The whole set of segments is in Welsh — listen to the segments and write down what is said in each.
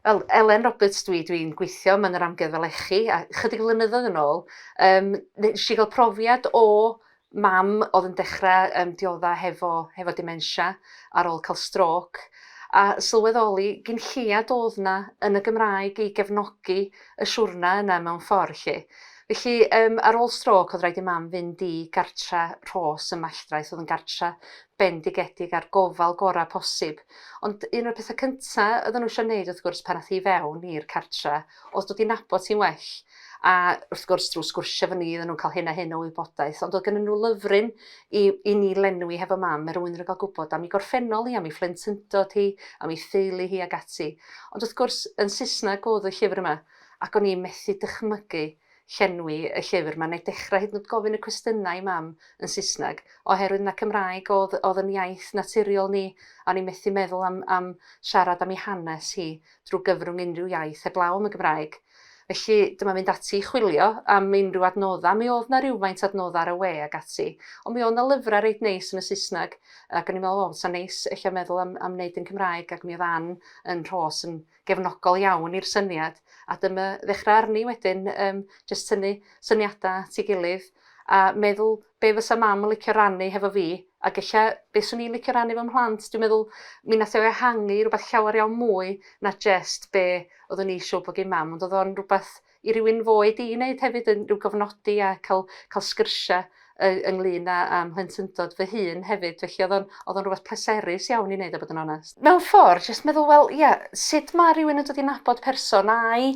fel Elen Roberts dwi dwi'n gweithio mewn yr amgueddfa lechi a chydig flynyddoedd yn ôl yym nes i ga'l profiad o Mam oedd yn dechrau yym diodda' hefo hefo dementia ar ôl cael strôc, a sylweddoli gin lleiad oedd 'na yn y Gymraeg i gefnogi y siwrna yna mewn ffordd 'lly. Felly yym ar ôl strôc oedd raid i Mam fynd i gartra' Rhos ym Malltraeth oedd yn gartra' bendigedig a'r gofal gora' posib. Ond un o'r petha' cynta' oedden nhw isio 'neud wrth gwrs pan ath hi i fewn i'r cartra' oedd dod i nabod hi'n well. a wrth gwrs drwy sgwrsio efo ni oedden nhw'n cael hyn a hyn o wybodaeth ond oedd gennyn nhw lyfryn i i ni lenwi hefo mam er mwyn iddo gael gwybod am ei gorffennol hi, am ei phlentyndod hi, am ei theulu hi ac ati. Ond wrth gwrs yn Saesneg oedd y llyfr yma ac o'n i'n methu dychmygu llenwi y llyfr 'ma neu dechrau hyd yn oed gofyn y cwestiynau i mam yn Saesneg oherwydd na Cymraeg oedd oedd yn iaith naturiol ni a o'n i'n methu meddwl am am siarad am ei hanes hi drwy gyfrwng unrhyw iaith heblaw am y Gymraeg. Felly, dyma fynd ati i chwilio am unrhyw adnoddau. Mi oedd 'na rywfaint o adnoddau ar y we ac ati. Ond mi oedd 'na lyfrau reit neis yn y Saesneg, ac o'n i'n meddwl, wel, fysa'n neis ella meddwl am am wneud yn Cymraeg, ac mi oedd Ann yn Rhos yn gefnogol iawn i'r syniad. A dyma ddechrau arni wedyn, yym, jyst tynnu syniadau at ei gilydd, a meddwl be fysa mam yn licio rannu hefo fi, ag ella be swn i'n licio rannu efo mhlant, dwi'n meddwl mi nath o ehangu i rwbath llawer iawn mwy na jest be oeddwn i siŵr bod gin mam, ond oedd o'n rwbath i rywun fo i di i neud hefyd, yn rhyw gofnodi a cael cael sgyrsia y- ynglyn a a mhlentyndod fy hun hefyd, felly oedd o'n oedd o'n rwbath pleserus iawn i neud a bod yn onest. Mewn ffor, jest meddwl wel ia, sut ma rywun yn dod i nabod person a'i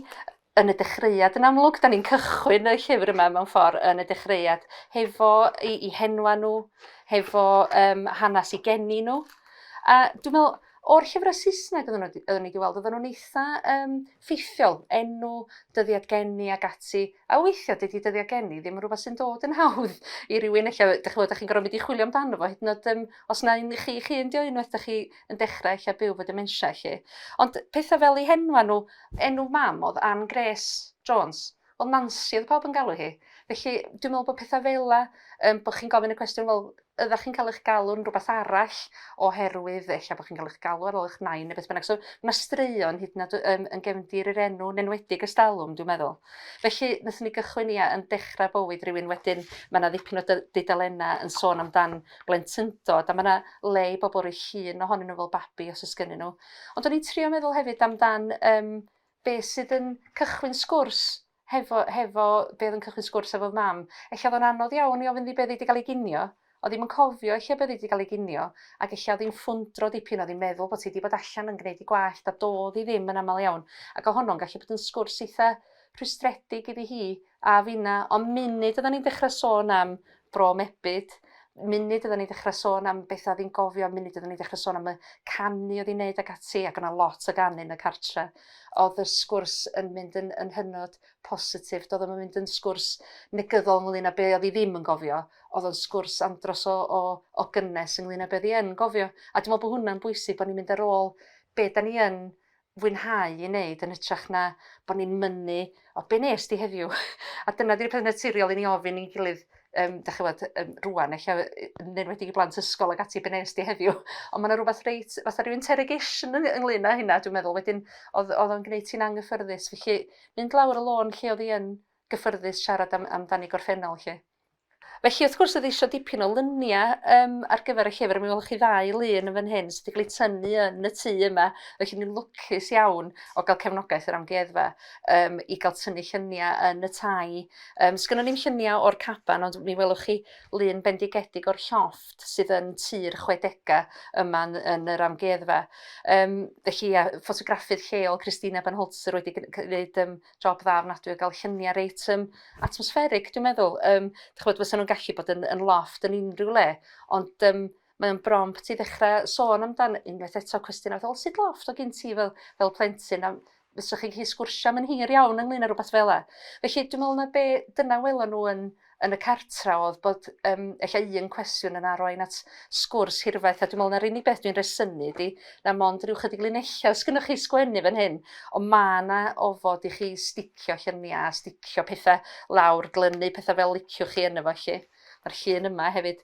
yn y dechreuad yn amlwg. 'Dan ni'n cychwyn y llyfr yma mewn ffordd yn y dechreuad hefo 'i 'i henwa' nhw hefo yym hanes 'u geni nhw a dwi me'wl o'r llyfre Saesneg oddan n'w oeddwn i 'di weld oddan nhw'n eitha yym ffeithiol, enw, dyddiad geni ag ati a weithia' dydi dyddia' geni ddim yn rwbath sy'n dod yn hawdd i rywun ella dych ch'mod dych chi'n gor'o' mynd i chwilio amdano fo hyd yn o'd yym os na un i chi 'ych hun 'di o unwaith dych chi yn dechre ella byw 'fo dementia 'lly. Ond petha fel 'u henwa nhw, enw mam o'dd Ann Grace Jones, wel Nansi o'dd pawb yn galw hi. Felly dwi'n me'wl bo' petha fela yym bo' chi'n gofyn y cwestiwn wel ydach chi'n ca'l 'ych galw'n rwbath arall oherwydd ella bo' chi'n ca'l 'ych galw ar ôl 'ych nain ne' beth bynnag so ma' straeon hyd yn o'd yym yn gefndir yr enw yn enwedig ersdalwm dwi'n meddwl. Felly nethon ni gychwyn ia yn dechra bywyd rywun wedyn ma' 'na ddipyn o dy- dudalenna yn sôn amdan blentyndod a ma' 'na le i bobl roi llun ohonyn nhw fel babi os oes gennyn nhw. Ond o'n i'n trio meddwl hefyd amdan um, be sydd yn cychwyn sgwrs hefo, hefo be oedd yn cychwyn sgwrs efo mam. Ella oedd o'n anodd iawn i ofyn ddi beth wedi cael ei ginio, o ddim yn cofio lle beth wedi cael ei ginio, ac ella oedd hi'n ffwndro dipyn, oedd hi'n meddwl bod hi wedi bod allan yn gwneud i gwallt a dodd hi ddim yn aml iawn. Ac o honno'n gallu bod yn sgwrs eitha rhwystredig iddi hi A finna, ond munud odda ni'n dechra sôn am Bro Mebyd, munud odda ni'n dechra sôn am betha fi'n gofio, munud odda ni'n dechra sôn am y canu o'dd 'i'n neud ag ati ac o' 'na lot o ganu yn y cartre o'dd y sgwrs yn mynd yn yn hynod positif do'dd o'm yn mynd yn sgwrs negyddol ynglŷn â be' o'dd 'i ddim yn gofio o'dd o'n sgwrs andros o o o gynnes ynglŷn â be' o'dd 'i yn gofio a dwi me'wl bo' hwnna'n bwysig bo' ni'n mynd ar ôl be' 'dan ni yn fwynhau ei wneud yn hytrach na bod ni'n mynnu o be wnest ti heddiw? A dyna 'di'r peth naturiol i ni ofyn i'n gilydd yym dach ch'mod yym rŵan ella yy yn enwedig i blant ysgol ag ati be wnest ti heddiw? Ond ma' 'na rwbath reit fatha ryw interrogation yng- ynglŷn â hynna dwi'n meddwl wedyn o'dd o'dd o'n gneud ti'n anghyffyrddus felly mynd lawr y lôn lle o'dd 'i yn gyffyrddus siarad am amdani gorffennol 'lly. Felly wrth gwrs oedd eisiau dipyn o lyniau um, ar gyfer y llyfr. Mi welwch chi ddau lun yn fan hyn sydd wedi cael eu tynnu yn y tŷ yma. Felly ni'n lwcus iawn o gael cefnogaeth yr amgueddfa um, i gael tynnu lluniau yn y tai. Um, Sgynnon ni'n lluniau o'r caban, ond mi welwch chi lun bendigedig o'r llofft sydd yn tir chwedegau yma yn, yn yr amgueddfa. Um, felly, a, ffotograffydd lleol Christina Banholzer wedi gwneud um, job dda ofnadwy o ga'l llunia' reit yym atmosfferig dwi'n meddwl yym dych ch'mod fysan nw'n gallu bod yn yn lofft yn unryw le ond yym mae o'n brompt i ddechra sôn amdan unwaith eto cwestiwn o feddwl sut lofft o' gin ti fel fel plentyn a fysach chi'n gallu sgwrsio am yn hir iawn ynglŷn â rwbath fel 'a. Felly dwi me'wl 'na be' dyna welon n'w yn yn y cartra oedd bod yym ella un cwestiwn yn arwain at sgwrs hirfaith a dwi me'wl na'r unig beth dwi'n resynu 'di na mond ryw chydig linella' os gynnoch chi sgwennu fan hyn on' ma' 'na ofod i chi sticio llynia a sticio pethe lawr glynu petha fel liciwch chi yno fo 'lly. Ma'r llun yma hefyd.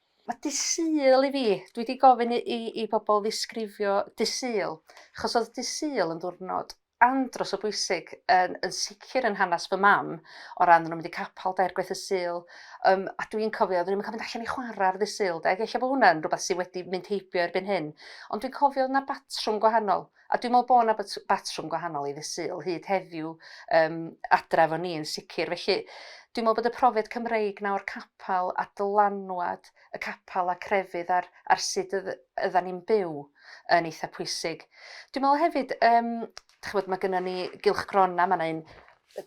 Mae Dydd Sul i fi, dwi 'di gofyn i i i bobl ddisgrifio Dydd Sul, achos oedd Dydd Sul yn ddiwrnod andros o bwysig yn yn sicr yn hanes fy mam, o ran o'n nhw'n mynd i capel dair gwaith y Sul, yym a dwi'n cofio oedden ni'm yn cael mynd allan i chwarae ar Ddydd Sul 'de, ag ella bod hwnna'n rywbeth sydd wedi mynd heibio erbyn hyn, ond dwi'n cofio oedd 'na batrwm gwahanol. A dwi'n meddwl bod 'na batrwm gwahanol i ddydd Sul hyd heddiw um, adra efo ni yn sicr. Felly, dwi'n meddwl bod y profiad Cymreig nawr capel a dylanwad y capel a crefydd ar, ar sut ydda ni'n byw yn eitha pwysig. Dwi'n meddwl hefyd, um, chybod, mae gennym ni gylchgrona, mae yna un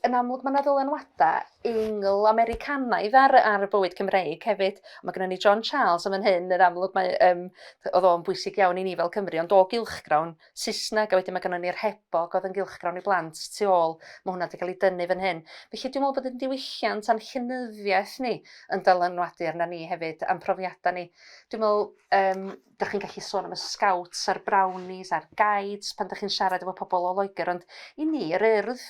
yn amlwg ma' 'na ddylanwada Eingl-Americanaidd ar y ar y bywyd Cymreig hefyd. Ma' gynnon ni John Charles yn fan hyn yn amlwg mae yym yy o'dd o'n bwysig iawn i ni fel Cymry ond o gylchgrawn Saesneg a wedyn ma' gynnon ni'r Hebog o'dd yn gylchgrawn i blant tu ôl ma' hwnna 'di ga'l 'i dynnu fan hyn. Felly dwi me'wl bod 'yn diwylliant a'n llenyddiaeth ni yn dylanwadu arnan ni hefyd a'n profiada ni. Dwi me'wl yym dych chi'n gallu sôn am y scouts a'r brownies a'r guides pan dych chi'n siarad efo pobl o Loegr ond i ni yr Urdd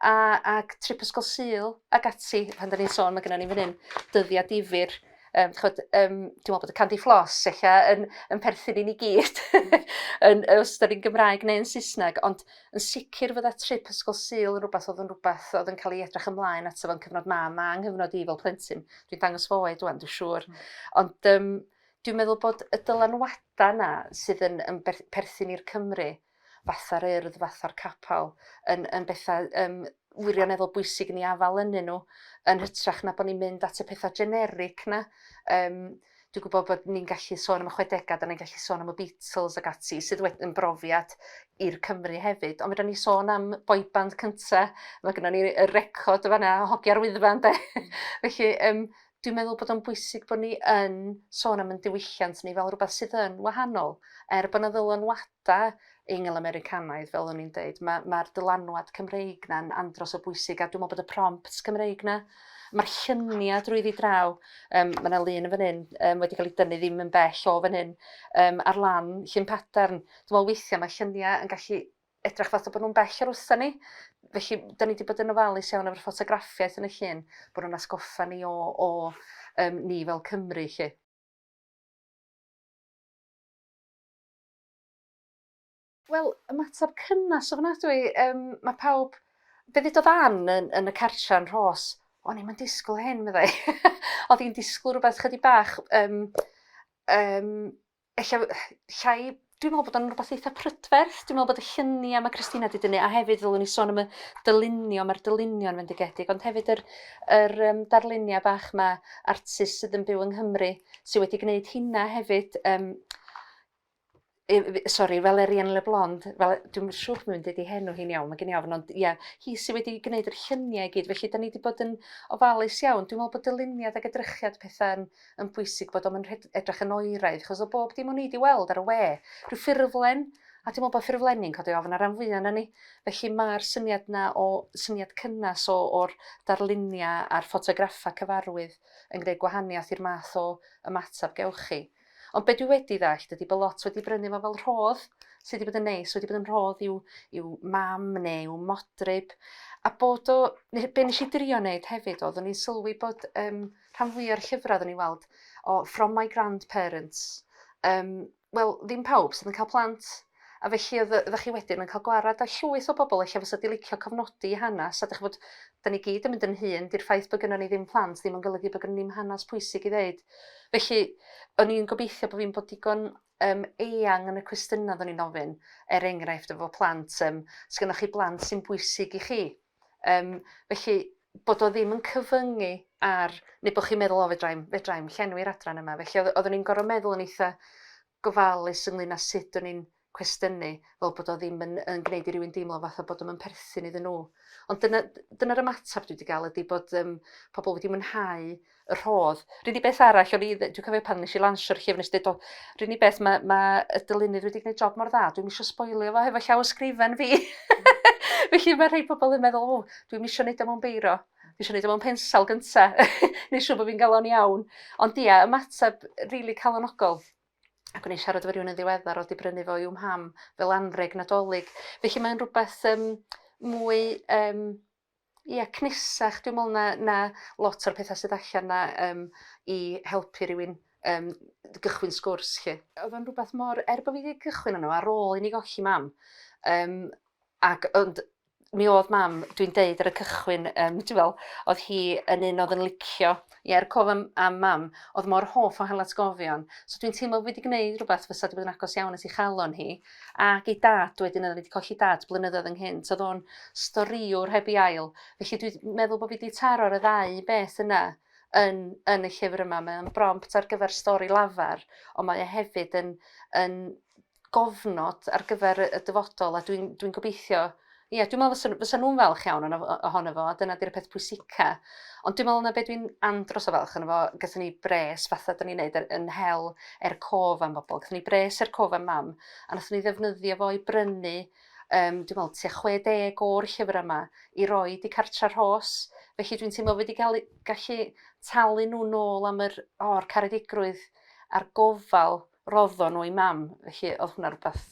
a ac trip ysgol Sul ac ati pan dyn ni'n sôn mae gennym ni fan hyn dyddiau difyr um, chod, um, dwi'n meddwl bod y candy floss eich yn, yn perthyn i ni gyd yn, os da ni'n Gymraeg neu yn Saesneg ond yn sicr fydda trip ysgol Sul yn rhywbeth oedd yn rhywbeth oedd yn cael ei edrych ymlaen at efo'n cyfnod mam a yng nghyfnod i fel plentyn dwi'n dangos fo oed dwi'n siŵr mm. ond um, Dwi'n meddwl bod y dylanwadau yna sydd yn yn berth- perthyn i'r Cymry, fatha'r Urdd, fatha'r Capel, yn yn bethau yym wirioneddol bwysig i ni afael ynnyn nhw, yn hytrach na bod ni'n mynd at y pethau generic 'na. Yym dwi'n gwybod bod ni'n gallu sôn am y chwedegau, 'dan ni'n gallu sôn am y Beatles ac ati, sydd wed- yn brofiad i'r Cymry hefyd. Ond fedran ni sôn am boy band cynta, ma' gynnon ni y record yn fan 'na, Hogia'r Wyddfa ynde? Felly yym Dwi'n meddwl bod o'n bwysig bod ni yn sôn am 'yn diwylliant ni fel rhywbeth sydd yn wahanol. Er bod 'na ddylanwadau Eingl-Americanaidd, fel o'n i'n deud, ma' ma'r dylanwad Cymreig 'na'n andros o bwysig a dwi'n meddwl bod y prompts Cymreig 'na Mae'r lluniau drwyddi draw, um, mae yna lun yn fan hyn um, wedi cael ei dynnu ddim yn bell o fan hyn, um, ar lan llun padarn. Dwi'n meddwl weithiau mae lluniau yn gallu edrych fatha bod nhw'n bell o'r usa ni. Felly 'dan ni 'di bod yn ofalus iawn efo'r ffotograffiaeth yn y llun, bod nhw'n atgoffa ni o o yym ni fel Cymry 'lly. Wel ymateb cynnas ofnadwy yym ma' pawb be' ddedodd Ann yn yn y cartra yn Rhos o'n i'm yn disgwl hyn meddai. O'dd 'i'n disgwl rwbeth chydig bach yym yym Ella llai, dwi'n meddwl bod o'n rhywbeth eitha prydferth, dwi'n meddwl bod y lluniau mae Christina wedi dynnu, a hefyd ddylwn ni sôn am y dylunio, mae'r dylunio yn fendigedig, ond hefyd yr, yr um, darluniau bach yma, artist sydd yn byw yng Nghymru, sydd wedi gwneud hynna hefyd, um, sori, Valerian Leblond, fel, dwi'n siŵr bod mynd wedi henw hi'n iawn, mae gen i ofn, ond ia, hi sydd wedi gwneud yr lluniau i gyd, felly da ni wedi bod yn ofalus iawn. Dwi'n meddwl bod dyluniad ac edrychiad pethau'n yn bwysig bod o'm yn rhed- edrach yn oeraidd achos o bob dim o'n i 'di weld ar y we, rhyw ffurflen, a dwi me'wl bo' ffurflenni'n codi ofn ar ran fwya ona ni. Felly ma'r syniad 'na o syniad cynnes o o'r darlunia a'r ffotograffa cyfarwydd yn gneud gwahaniath i'r math o ymatab gewch chi. Ond be' dwi wedi ddallt ydi bo' lot wedi brynu fo fel rhodd, sy 'di bod yn neis, wedi bod yn rhodd i'w i'w mam neu i'w modryb a bod o ne- be' nesh i drio neud hefyd odd o'n i'n sylwi bod yym Rhan fwya o'r llyfrau oedden ni'n weld o from my grandparents. Um, Wel, ddim pawb sydd yn cael plant. A felly oeddech chi wedyn yn cael gwarad â llwyth o bobl eich fysa di licio cofnodi hanes. A dych bod, da ni gyd yn mynd yn hun, di'r ffaith bod gynnon ni ddim plant ddim yn golygu bod gynnon ni'n hanes pwysig i ddeud. Felly, o'n i'n gobeithio bod fi'n bod digon um, eang yn y cwestiynau oeddwn i'n ofyn, er enghraifft efo plant, um, sgynnoch chi blant sy'n bwysig i chi? Yym felly bod o ddim yn cyfyngu ar... Neu bod chi'n meddwl o fedra i'm fedra i'm llenwi'r adran yma. Felly oedd oeddwn i'n gorfod meddwl yn eitha' gofalus ynglyn â sut o'n i'n cwestiynu fel bod o ddim yn yn gwneud i rywun deimlo fatha bod o'm yn perthyn iddyn nhw. Ond dyna dyna'r ymateb dwi 'di ga'l ydi bod yym pobl wedi mwynhau y rhodd. R'un i beth arall o'n i dwi cofio pan nesh i lansio'r llyfr nes deud o r'un i beth ma' ma' y dylunydd wedi gneud job mor dda dwi'm isio sboilio fo hefo llawysgrifen fi. Felly ma' rhei pobol yn meddwl o dwi'm isio neud o mewn beiro. Dwi isio neud o mewn pensel gynta. Neu' siw' bo' fi'n ga'l o'n iawn. Ond ia ymateb rili calonogol. Ac o'n i'n siarad efo rywun yn ddiweddar o'dd 'di brynu fo i'w mham fel anreg Nadolig. Felly mae'n rwbeth yym mwy yym Ia cnisach dwi me'wl na na lot o'r petha sydd allan 'na yym i helpu rywun yym d- gychwyn sgwrs 'lly. Odd o'n rwbath mor... Er bo' fi 'di cychwyn arno fo ar ôl i ni golli mam yym ac ond mi odd mam dwi'n deud ar y cychwyn yym ti wel' odd hi yn un odd yn licio ie a'r cof am am mam odd mor hoff o hel atgofion so dwi'n teimlo fi 'di gneud rwbath fysa 'di bod yn agos iawn at 'i chalon hi. ac ei dad wedyn o'dd o wedi colli dad blynyddoedd ynghynt o'dd o'n storïwr heb ei ail felly dwi meddwl bo' fi 'di taro'r y ddau beth yna yn yn y llyfr yma mae o'n brompt ar gyfer stori lafar on' mae e hefyd yn yn gofnod ar gyfer y y dyfodol a dwi'n dwi'n gobeithio Ie, dwi'n meddwl fysa, fysa nhw'n falch iawn ohono fo, a dyna di'r peth pwysica. Ond dwi'n meddwl yna beth dwi'n andros o falch ohono fo, gyda ni bres fatha da ni'n neud er, yn hel er cof am bobl. Gyda ni bres er cof am mam, a nath ni ddefnyddio fo i brynu um, dwi'n meddwl, tua 60 o'r llyfrau yma i roi di cartra rhos. Felly dwi'n teimlo wedi gael, gallu talu nhw nôl am yr o'r caredigrwydd a'r gofal roddo nhw i mam. Felly oedd hwnna rhywbeth